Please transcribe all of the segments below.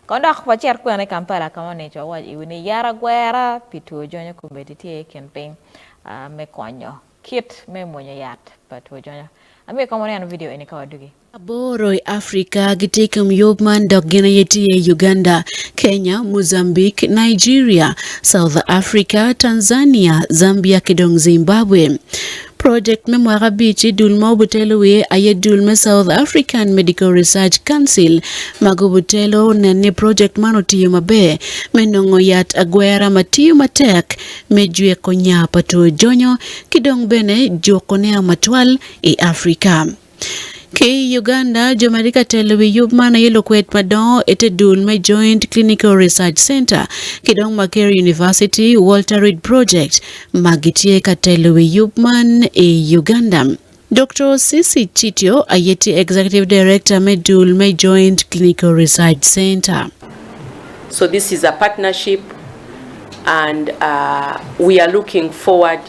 Kong dok wacit kwene i Kampala ka ma onongo icoyo waco iwi ni yat agwera pi two jonyo kombeddi tye i kin piny me konyo kit me mwonya yat pa two jonyo. Amiyo ikom waneno vidio eni ka wadugi. Aboro i Afrika gitye i kom yub man dok gin aye tye Uganda, Kenya, Mozambique, Nigeria, South Africa, Tanzania, Zambia ki dong Zimbabwe. Project me mwaka abic-ci dul ma obutelo wiye aye dul me South African Medical Research Council ma gubutelo nen ni project man otiyo maber me nongo yat agwera ma tiyo matek me jwiko nya pa two jonyo ki dong bene juko ne amatwal i Africa. Ki i Uganda, jo ma tye ka telo wi yub man aye lukwed madongo i te dul me Joint Clinical Research Centre ki dong Makerere University Walter Reed Project ma gitye ka telo wi yub man i Uganda. Doktor Cissy Chityo aye tye Executive Director me dul me Joint Clinical Research Centre. So this is a partnership and uh, we are looking forward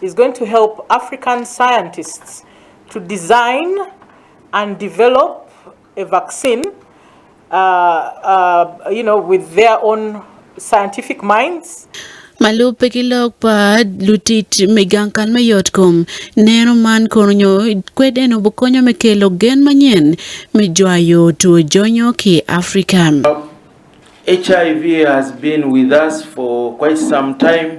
He's going to help African scientists to design and develop a vaccine with their own scientific minds. Ma lubbe ki lok pa lutic me gang kal me yotkom, neno man kono nyo kwed en obo konyo me kelo gen manyen me jwayo two jonyo ki i Africa. HIV has been with us for quite some time.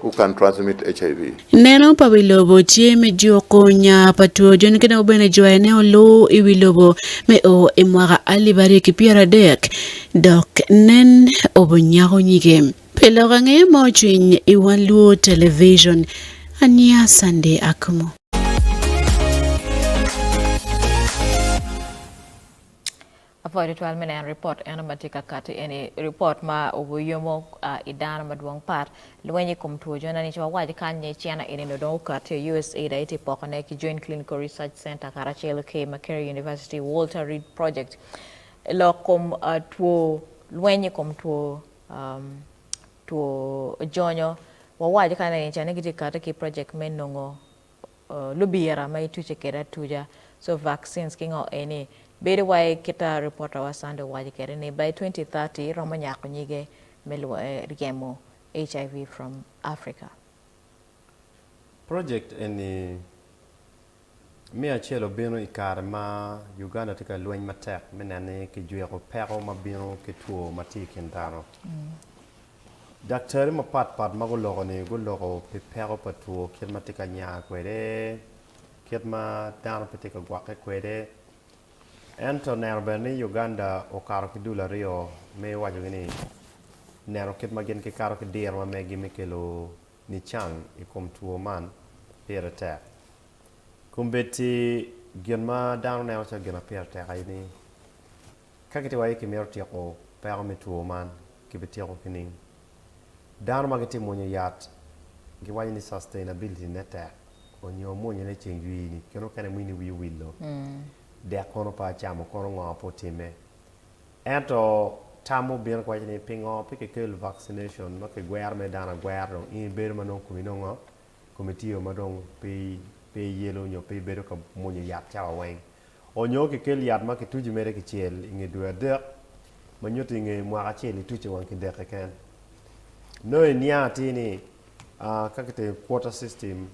who can transmit HIV. Neno pa wi lobo tye me juko nya pa two joni ki dok bene jwayo ne oluu i wi lobo me o i mwaka alip aryo ki pyera adek dok nen obo nyako nyige pi lok ange ma ocwiny i one luo television aniya Sunday Akumu. Apwoyo tutwal me neno ripot eno ma tye ka kati eni, ripot ma oyomo i dano madwong pat lweny i kom two jona ni co awaco kany ni China eni nongo dong okati i USAID aye tye poko ne ki Joint Clinical Research Center karacel ki Makerere University Walter Reed Project lok kom two lweny i kom two two jonyo wawaco kany ni ca ni gitye kati ki project me nongo lubira ma ituce kwede atuca, so vaccines, ki ngo eni. Bedo wai kit a reporter wa Sunday owaco kwede ni by twenty thirty romo nyako nyige me ryemo HIV from Africa. Project eni me acel obino i kare ma Uganda tye ka lweny matek me neno ni kijwiko peko ma bino ki two ma tye i kin dano. Daktari mapat pat ma guloko-ni guloko pi peko pa two kit ma tye ka nya kwede, kit ma dano pe tye ka gwokke kwede. Ento neno bene ni Uganda okato ki dul aryo me wacogi ni neno kit ma gin gikato ki diro ma megi me kelo nican i kom two man pire tek. Kombeddi gin ma dano neno calo gin ma pire tek aye ni Ka kit wa-yi kimito tyeko peko me two man, kibityeko kining? Dano ma gitye mwonyo yat giwaco ni sustainability ne tek onyo omwonyo ne ceng jwi ni kene okene mini wi owillo dek kono pe acamo kono ngo pe otime. Ento tam mubino kiwaco ni pingo pe kikelo vaccination ma kigwero mere dano agwera dong in ibedo ma nongo komi nongo kome tye o ma dong pe yelo nyo pe ibedo ka mwonyo yat cawa weng. Onyo kikel yat ma kituco mere kicel i nge dwe adek, ma nyuto i nge mwaka acel ituco wang ki dek keken. Nongo iniang atir ni ka kitimo quarter system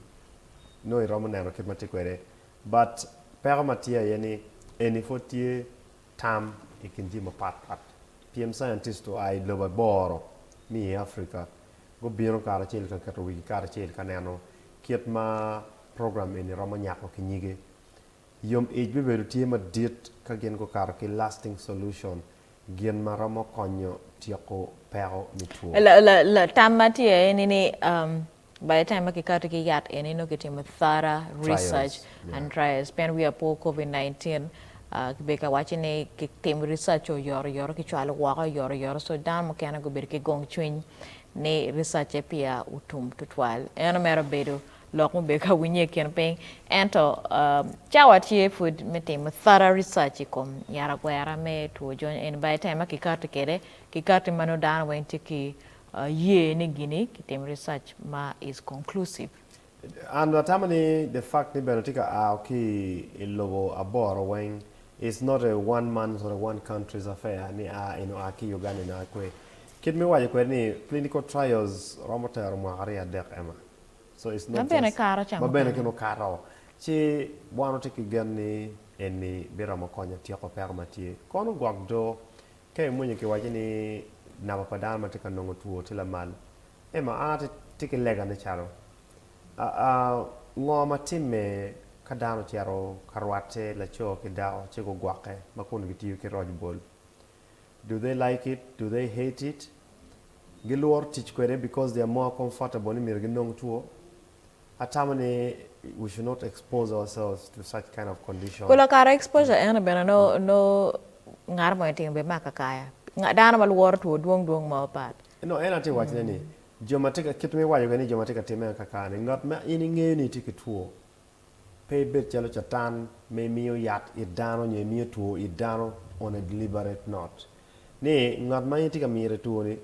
nongo iromo neno kit ma tye kwede. But peko ma tye aye ni eni pwod tye tam i kin jami mapat pat pien scientist oa i lobo aboro me i Africa Gubino karacel ka keto wigi karacel ka neno kit ma program eni romo nyako ki nyige. Yom ic bibedo tye madit ka gin gukato ki Lasting Solution, gin ma romo konyo tyeko peko me two. Latam ma tye aye ni, by the time ma kikato ki yat eni nongo kitimo thorough research, Andreas, pien wiya pe Covid 19, kibedo ka waco ni kitimo research oyoro yoro kicwalo woko oyoro yoro so dano mukene gubedo ki gong cwiny ni research-ce peya otum tutwal. Eno mera bedo lok mubedo ka winye i kin piny ento cawa tye pud me timo thorough research i kom yara gwera me two jony eni by the time ma kikati kede kikati ma nongo dano weng tye ki ye ni gini kitimo research ma is conclusive. And atamo ni the fact ni bene tye ka ao ki i lobo aboro weng is not a one month or a one country's affair ni a in oa ki Uganda in oa kwe. Kit me waco kwede ni clinical trials romo tero mwaka aryo adek ema. So it's not just ma bene kine okato ci wan watye ki gen ni eni biromo konyo tyeko peko ma tye. Kono gwok do ka imwonyo kiwaco ni namba pa dano ma tye ka nongo two tye lamal Emma, An atye ki lega me calo. Ngo ma timme ka dano ocito ka rwatte laco ki dako ci gugwokke ma kun gitiyo ki roc bol? Do they like it? Do they hate it? Gilworo tic kwede because they are more comfortable ni myero ginong two? Atamo ni we should not expose ourselves to such kind of condition. Kula kato exposure eno bene nongo ngat mo etimo bemako akaya. Dano ma lworo two dwong dwong mo pat. Nongo en aye tye ka wacone ni, Jo ma tye ka, kit ma iwaco kwede ni jo ma tye ka timme akaka-ni, ngat ma in ingeyo ni tye ki two, pe ibed calo Catan ma imiyo yat it dano nyo imiyo two it dano on a deliberate note. Ni, ngat ma in tye ka mire two-ni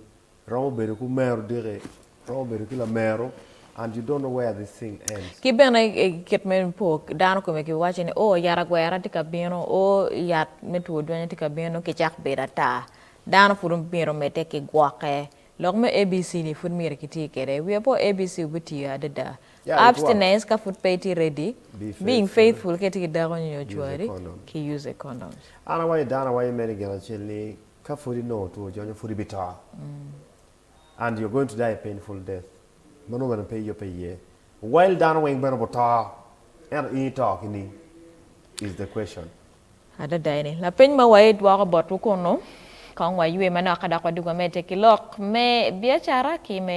romo bedo ki omer odiki, romo bedo ki lameru, and you don't know where this thing ends. Ki bene kit me po dano kome ki waco ni, Oh, yat agwera tye ka bino, oh, yat me two dwenya tye ka bino, nongo kicak bedo ata. Dano pud omyero omedde ki gwokke. Lok me ABC ni pud myero kiti kwede. Wi apo ABC obitiyo adada. Abstinence ka pud pe iti ready. Being faithful ka iti ki dako nyo nyo cwari, ki use condoms. An awaco dano awaco me ni gin acel ni ka pud inongo two oco nyo pud ibito and you're going to die a painful death ma nongo bene pe iyub pe iye. Well dano weng bene obuto ento in ito kining is the question. Adada eni lapeny ma waye dwoko botwu kunu, kong waywe manok ka dok wadug wamedde ki lok me biacara ki me